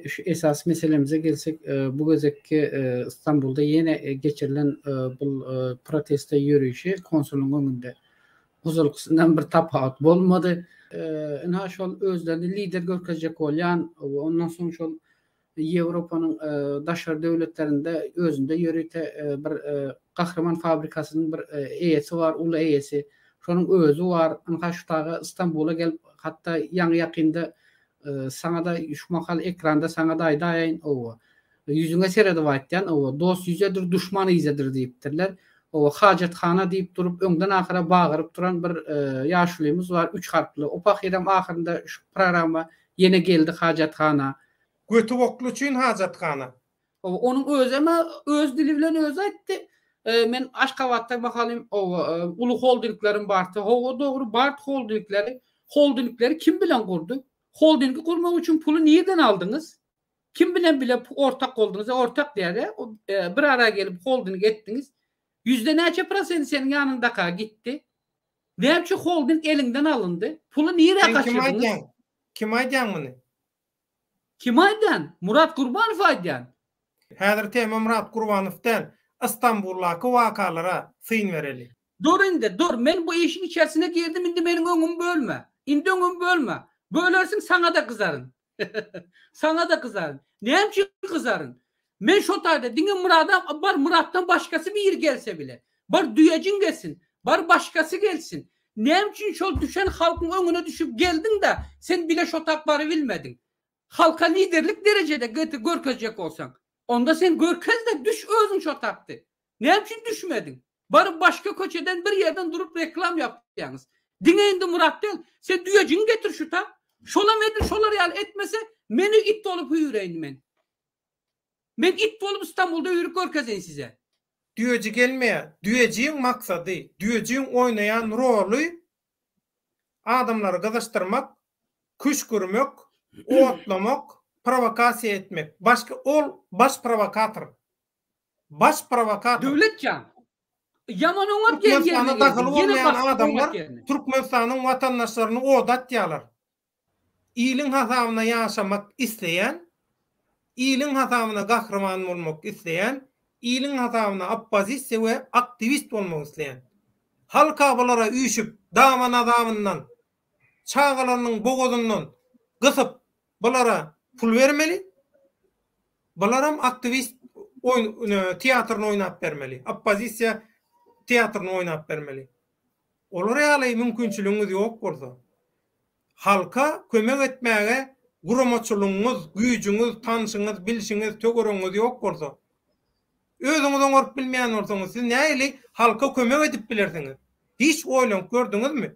Şu esasy meselemize gelsek, bu gezekki Stambulda ýene geçirilen bu proteste ýörişi konsulyň öňünde ozalkysyndan bir tapawut bolmady. Ynha şol özlerini lider görkezjek bolýan we ondan soň şol Ýewropanyň daşary döwletlerinde özünde ýörite bir Gahryman fabrikasynyň bir eýesi bar, uly eýesi. Şonuň özi bar. Ynha şu dagy Stambula gelip, hatda ýaňy-ýakynda saňa-da şu mahal ekranda saňa-da aýdaýaýyn, hawa. Ýüzüňe seredip aýtýan, hawa, Dost ýüzedir, duşman yzedir diýipdirler. Hawa, hajathana diýip durup, öňden ahyra bagyryp duran bir ýaşulymyz bar, üç harply. O pahyram ahyrynda şu programma ýene geldi hajathana. Göti gokly üçin hajathana. Oba onuň özem öz dili bilen özi aýtdy. Men Aşgabatda mahalym oba uly holdinglerim barty. Hawa dogry bart holdingleri. Holdingleri kim bilen gurdy? Holdingi gurmak üçin puly nirden aldyňyz? Kim bilen bile ortak boldyňyz? Ortak diýäre bir ara gelip holding etdiňiz. Ýüzde näçe prosenti seniň ýanyňdaka gitdi? Näçe holding eliňden alyndy? Puly nirä gaçyrdyňyz? Kim aýdýaň muny? Kim aýdýan? Murat Gurbanow aýdýan. Häzir tema Murat Gurbanow däl, Istanbuldaky wakalara syn bereli. Dur indi, dur, men bu işiň içersine girdim, indi meniň öňümi bölme. Indi öňümi bölme. Bölersiň saňa-da gyzaryn. Saňa-da gyzaryn. Näme üçin gyzaryn? Men şo taýda diňe Myrada bar Myratdan başgasy biri gelse bile. Bar düýejin gelsin. Bar başgasy gelsin. Näme üçin şol düşen halkyň öňüne düşüp geldiňda sen bile şo tak barybilmediň. Halka liderlik derejede gete görkezjek bolsaň. Onda sen görkezde düş özüň şo takdy. Näme üçin düşmediň. Baryp başga köçeden bir ýerden durup reklam ýapýaňyz. Diňe indi Myrat däl. Sen düýejin getir şu tak. Şolam edil şolar ýaly etmese meni it bolup hüýreýin men. Men it bolup Istanbulda ýörüp görkezeýin size. Düýeji gelmeýär. Düýejiň maksady, düýejiň oýnaýan roly adamlary gyzyşdyrmak, küşgürmek, otlamak, prowokasiýa etmek. Başga ol baş prowokator. Baş prowokator. Döwletjan, ýaman oňat ýer ýerine geldiň, ýene basyp oňat ýerine. Türkmenistana dahyly bolmaýan adamlar Türkmenistanyň watandaşlaryny oda atýarlar. Iliň hasabyna ýaşamak isleýän, iliň hasabyna gahryman bolmak isleýän, iliň hasabyna oppozisiýa we aktiwist bolmak isleýän. Halka bulara üýşüp, dama-nazabyndan, çagalarynyň bogazyndan gysyp, bulara pul bermeli. Bularam aktiwist oýn, teatryny oýnap bermeli, oppozisiýa teatryny oýnap bermeli. Olar ýaly mümkinçiligiňiz ýok bolsa, halka kömek etmäge guramaçylygyňyz, güýjüňiz, tanşyňyz, bilşiňiz, töweregiňiz ýok bolsa, özüňiz oňaryp bilmeýän bolsaňyz, siz nähili halka kömek edip bilersiňiz? Hiç oýlanyp gördüňizmi?